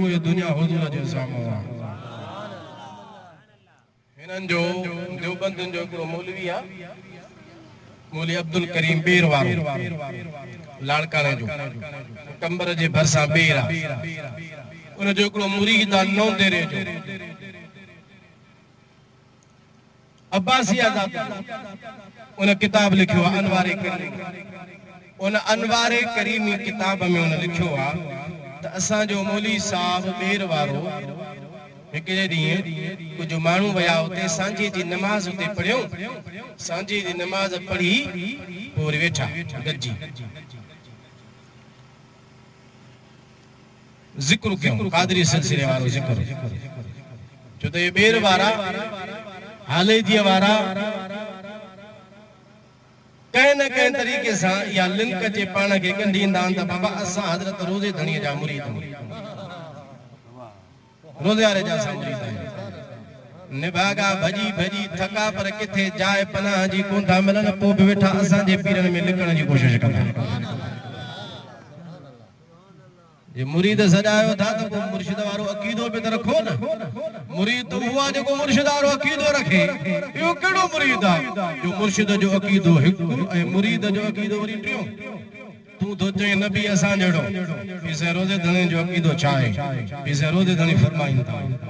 پوري دنيا حضور جي سامهون آ. هنن جو ديوبندين جو هڪڙو مولوي آ مولوي عبدالڪريم ٻير وارو لاڙڪاڻي جو ٽمبر جي ڀرسان ٻير آ ان جو هڪڙو مريد آ نونديري جو. عباسي آزادي جو ان ڪتاب لکيو آ انوار ڪريمي ان انوار ڪريمي ڪتاب ۾ ان لکيو آ ته اسان جو مولوي صاحب ٻير وارو هڪ ڏينهن ڪجهه ماڻهو ويا اتي سانجهي جي نماز اتي پڙهيون سانجهي جي نماز پڙهي پوء وري ويٺا گڏجي ذڪر ڪيون، قادري سلسلي وارو ذڪر، ڇو ته اهي ٻير وارا، هاليجيء وارا، ڪنهن نه ڪنهن طريقي سان اها لنڪ اچي پاڻ کي ڳنڍي ايندا آهن ته بابا اسان حضرت روضي ڌڻيء جا مريد آهيون. روضي واري جا اسان مريد آهيون. نڀاڳا ڀڄي ڀڄي ٿڪا پر ڪٿي جاء پناهه جي ڪون ٿا ملن، پوء به ويٺا اسان جي پيرن ۾ لڪڻ جي ڪوشش ڪندا. جي مريد سڏايو ٿا ته پوء مرشد وارو عقيدو به ته رکو نه. مريد ته اهو آهي جيڪو مرشد وارو عقيدو رکي. اهو ڪهڙو مريد آ جو مرشد جو عقيدو هڪ ۽ مريد جو عقيدو وري ٽيون. تون ٿو چئين نه بي اسان جهڙو. پير سائين روضي ڌڻي جو عقيدو ڇا آهي؟ پير سائين روضي ڌڻي فرمائين ٿا.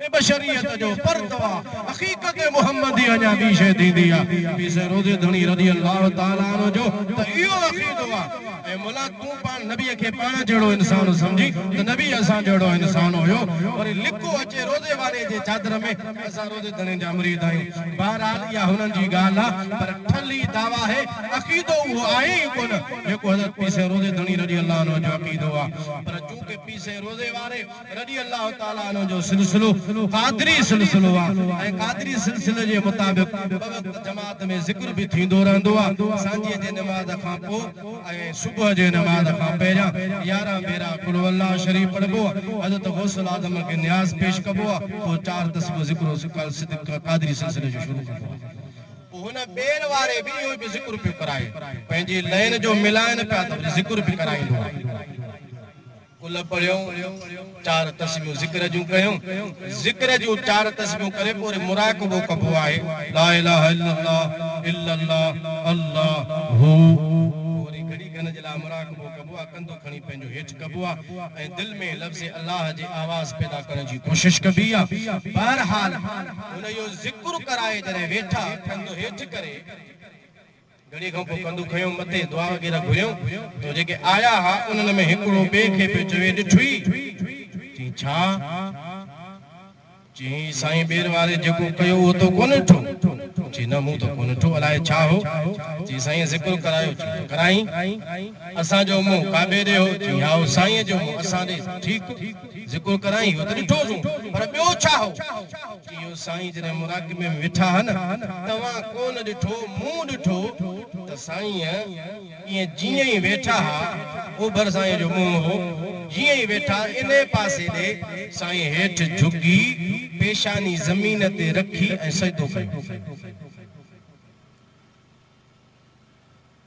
۾ بشريت جو پرتو آ، حقيقت محمدي اڃا ٻي شيء ٿيندي آ، پير سيد روضي ڌڻي رضي الله تعالٰي عنه جو ته اهو عقيدو آ، اي مولا تون پاڻ نبيء کي پاڻ جهڙو انسان سمجهين ته نبي اسان جهڙو انسان هيو، وري لڪو اچي روضي واري جي چادر ۾ اسان روضي ڌڻي جا مريد آهيون، بهرحال اها هنن جي ڳالهه آ، پر ٺلهي دعويٰ هي، عقيدو اهو آهي ئي ڪونه، جيڪو حضرت پير سيد روضي ڌڻي رضي الله عنه جو عقيدو آ، پر چونڪه پير سيد روضي واري. رضي الله تعالٰي عنه جو سلسلو قادري سلسلو آ ۽ قادري سلسلي جي مطابق ٻه وقت جماعت ۾ ذڪر به ٿيندو رهندو آ سانجهيء جي نماز کان پوء ۽ صبح جي نماز کان پهريان يارهن ڀيرا قل هو الله شريف پڙهبو آ حضرت غوث الاعظم کي نياز پيش ڪبو آ پوء چار تسبيحون ذڪر قادري سلسلي جو شروع ڪبو آ. پوء هن ٻير واري به اهو ئي پيو ذڪر پيو ڪرائي پنهنجي لئين جو ملائن پيا ته وري ذڪر به ڪرائيندو آ. گل پڙهيون، چار تسبيحون ذڪر جون ڪيون، ذڪر جون چار تسبيحون ڪري پوء وري مراقبو ڪبو آهي، لا اله الا الله، الا الله، الله، هو، پوء وري گهڙي کن جي لاء مراقبو ڪبو آهي، ڪنڌ کڻي پنهنجو هيٺ ڪبو آهي ۽ دل ۾ لفظ الله جي آواز پيدا ڪرڻ جي ڪوشش ڪبي آهي، بهرحال هن اهو ذڪر ڪرائي جڏهن ويٺا ڪنڌ هيٺ ڪري. گهڙي کان پوء ڪندو کنيو مٿي دعا وغيره گهريو ته جيڪي آيا ها انهن ۾ هڪڙو ٻئي کي پيو چوي ڏٺوئي؟ چيائين ڇا؟ چيائين هي سائين ٻير واري جيڪو ڪيو اهو تو ڪونه ڏٺو؟ چيائين نه مون ته ڪونه ڏٺو الائي ڇا هو؟ چيائين سائينء ذڪر ڪرايو چيائين ته ڪرائين؟ اسان جو منهن ڪعبي ڏي هو چيائين هائو سائينء جو منهن اسان ڏي ٺيڪ هو ذڪر ڪرائين اهو ته ڏٺوسون پر ٻيو ڇا هو؟ اهو سائين جڏهن مراقبي ۾ ويٺا ها نه، توهان ڪو نه ڏٺو، مون ڏٺو ته سائين ائين جيئن ئي ويٺا ها، اوڀر سائين جو منهن هو، جيئن ئي ويٺا انهي پاسي ڏي، سائين هيٺ جهڪي، پيشاني زمين تي رکي ۽ سجدو ڪيو.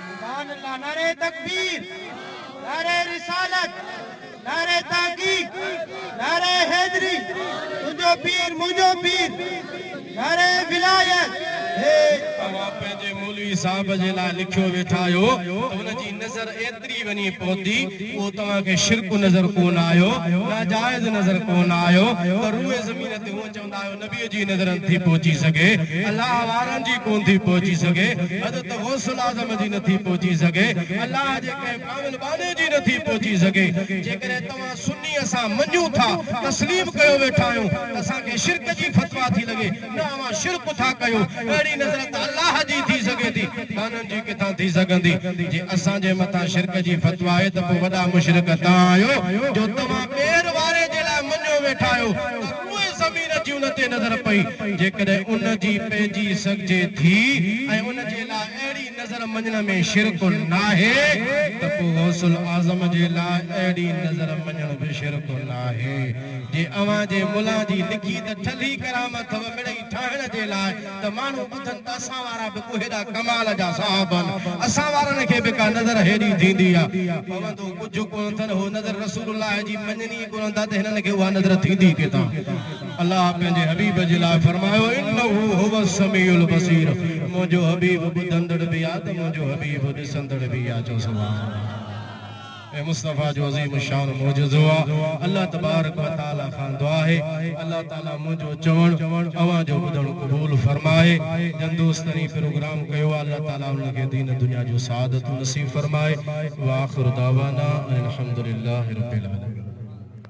سبحان الله نعره تڪبير نعره رسالت نعره تحقيق نعره حيدري تنهنجو پير منهنجو پير نعره ولايت هي توهان پنهنجي مولوي صاحب جي لاء لکيو ويٺا آهيو ته ان جي نظر ايتري وڃي پهتي اهو توهان کي شرڪ نظر ڪونه آيو ناجائز نظر ڪونه آيو ته روئي زمين تي هونء چوندو نايو نبيء جي نظر نٿي پهچي سگهي، الله وارن جي ڪونه ٿي پهچي سگهي، حضرت غوث الاعظم جي نٿي پهچي سگهي، الله جي ڪنهن ڪامل ٻانهي جي نٿي پهچي سگهي. جيڪڏهن توهان سني اسان مڃون ٿا، تسليم ڪيو ويٺا آهيون ته اسان کي شرڪ جي فتويٰ ٿي لڳي، نه اوهان شرڪ ٿا ڪيو، اهڙي نظر ته الله جي ٿي سگهي ٿي، ٻانهن جي ڪٿان ٿي سگهندي؟ جي اسان جي مٿان شرڪ جي فتويٰ آهي ته پوء وڏا مشرڪ توهان آهيو، جو توهان ٻير واري جي لاء مڃيو ويٺا آهيو ته. پوء زمين جي ان تي نظر پئي، جيڪڏهن ان جي پنهنجي سگهجي ٿي ۽ ان جي لاء اهڙي نظر مڃڻ ۾ شرڪ ناهي ته پوء غوث الاعظم جي لاء اهڙي نظر مڃڻ به شرڪ ناهي، جي اوهان جي ملان جي لکي ته ٺلهي ڪرامت و مڙئي ٺاهڻ جي لاء ته ماڻهو ٻڌن ته اسان وارا به ڪو هيڏا ڪمال جا صاحب آهن، اسان وارن کي به ڪا نظر هيڏي ٿيندي آهي. پوندو ڪجهه ڪونه اٿن، هو نظر رسول الله جي مڃن ئي ڪونه ٿا ته هنن کي اها نظر ٿيندي ڪٿان؟ الله پنهنجي حبيب جي لاء فرمايو، انه هو السميع البصير، منهنجو حبيب ٻڌندڙ به آهي ته منهنجو حبيب ڏسندڙ به آهي، چئو سبحان الله. ۽ مصطفيٰ جو عظيم الشان معجزو آ. الله تبارڪ و تعاليٰ کان دعا آهي ته الله تعاليٰ منهنجو چوڻ اوهان جو ٻڌڻ قبول فرمائي. جن دوست هي پروگرام ڪيو آ الله تعاليٰ انهن کي دين دنيا جون سعادتون نصيب فرمائي. واخر دعوانا ان الحمد لله رب العالمين.